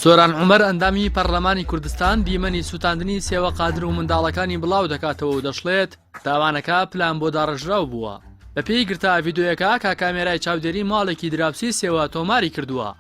سۆران عمر ئەندامی پەرلەمانی کوردستان دیمەنی سووتاندنی سێوە قادر و منداڵەکانی بڵاو دەکاتەوە و دەشڵێت تاوانەکە پلان بۆ داڕژراو بووە بەپێی گرتا ڤیددیوەکە کا کامێرای چاودێری ماڵێکی دراوسی سێوە تۆماری کردووە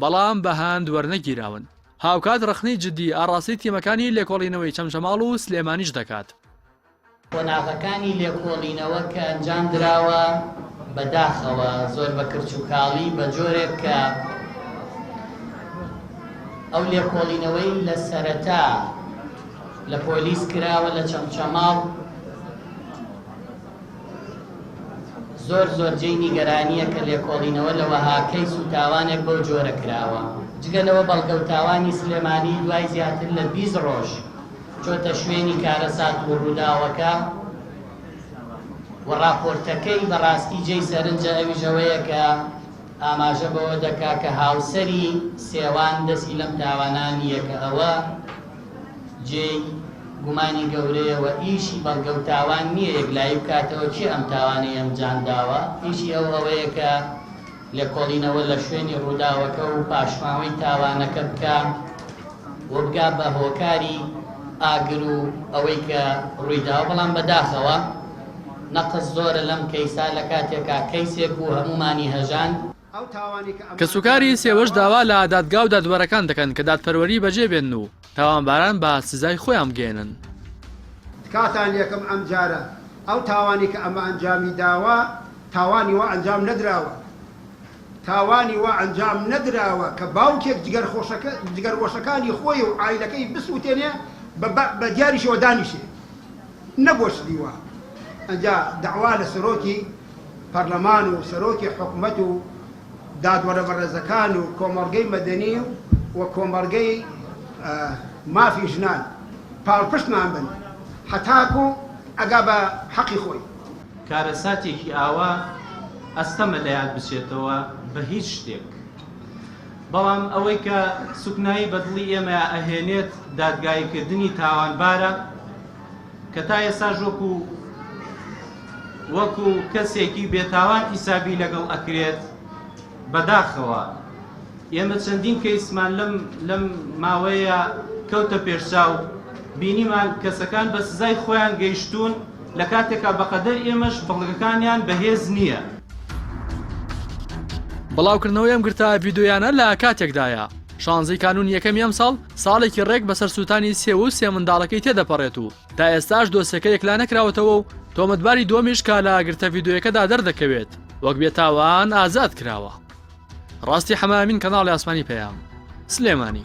بەڵام بە هەند وەرنەگیراون. هاوکات ڕەخنەی جددی ئاڕاستەی تیمەکانی لێکۆڵینەوەی چەمچەماڵ و سلێمانیش دەکات. قۆناغەکانی لێکۆڵینەوە کە ئەنجام دراوە بە داخەوە زۆر بە کرچ و کاڵی بە جۆرێک کە ئەو لێکۆڵینەوەی لە سەرەتا لە پۆلیس کراوە لە چەمچەماڵ، زۆر زۆر جێی نیگەرانییە کە لێکۆڵینەوە لە وەها کەیس و تاوانێک بەو جۆرە کراوە، جگە لەوە بەڵگە و تاوانی سلێمانی دوای زیاتر لە بیست ڕۆژ چۆتە شوێنی کارەسات و ڕووداوەکە و ڕاپۆرتەکەی بەڕاستی جێی سەرنجە ئەویش ئەوەیە کە ئاماژە بەوە دەکا کە هاوسەری سێوان دەستی لەم تاوانە نییە کە ئەوە جێی گومانی گەورەیە و ئیشی بەڵگە و تاوان نییە یەکلایی بکاتەوە کێ ئەم تاوانەی ئەنجامداوە، ئیشی ئەو ئەوەیە کە لێکۆڵینەوە لە شوێنی ڕووداوەکە و پاشماوەی تاوانەکە بکا و بگا بە هۆکاری ئاگر و ئەوەی کە ڕوویداوە، بەڵام بەداخەوە نەقس زۆرە لەم کەیسە لە کاتێکا کەیسێک بوو هەموومانی هەژاند. کەسوکاری سێوەش داوا لە دادگا و دادوەرەکان دەکەن کە دادپەروەری بەجێ بێنن و تاوانباران بە سزای خۆیان بگەیەنن. تکاتان لێکم ئەم جارە ئەو تاوانەی کە ئەمە ئەنجامی داوە تاوانی وا ئەنجام نەدراوە تاوانی وا ئەنجام نەدراوە کە باوکێک جگەرگۆشەکانی خۆی و عایلەکەی بسوتێنێ بە بە دیاریشەوە دانیشێ نەگۆشتنی وا ئەنجا دەعوا لە سەرۆکی پەرلەمان و سەرۆکی حکومەت و دادوەرە بەڕێزەکان و کۆمەڵگەی مەدەنی و کۆمەڵگەی مافی ژنان پاڵپشتمان بن هەتاکو ئەگا بە حەقی خۆی. کارەساتێکی ئاوا ئەستەمە لەیاد بچێتەوە بە هیچ شتێک، بەڵام ئەوەی کە سوکنایی بە دڵی ئێمەیا ئەهێنێت دادگاییکردنی تاوانبارە کە تا ئێستاش وەکو، وەکو کەسێکی بێتاوان حیسابی لەگەڵ ئەکرێت بەداخەوە ئێمە چەندین کەیسمان لەم لەم ماوەیە کەوتە پێشچاو بینیمان کەسەکان بە سزای خۆیان گەیشتوون لە کاتێکا بەقەدەر ئێمەش بەڵگەکانیان بەهێز نییە. بڵاوکردنەوەی ئەم گرتە ڤیدیۆیانە لە کاتێکدایە، شانزەی کانوونی یەکەمی ئەمساڵ ساڵێکی ڕێک بەسەر سووتانی سێوە و سێ منداڵەکەی تێدەپەڕێت و تا ئێستاش دۆسیەکە یەکلا نەکراوەتەوە و تۆمەتباری دووەمیش کە لە گرتە ڤیدیۆیەکەدا دەردەکەوێت وەک بێتاوان ئازاد کراوە. ڕاستی حەمامین کەناڵی ئاسمانی پەیام. سلێمانی.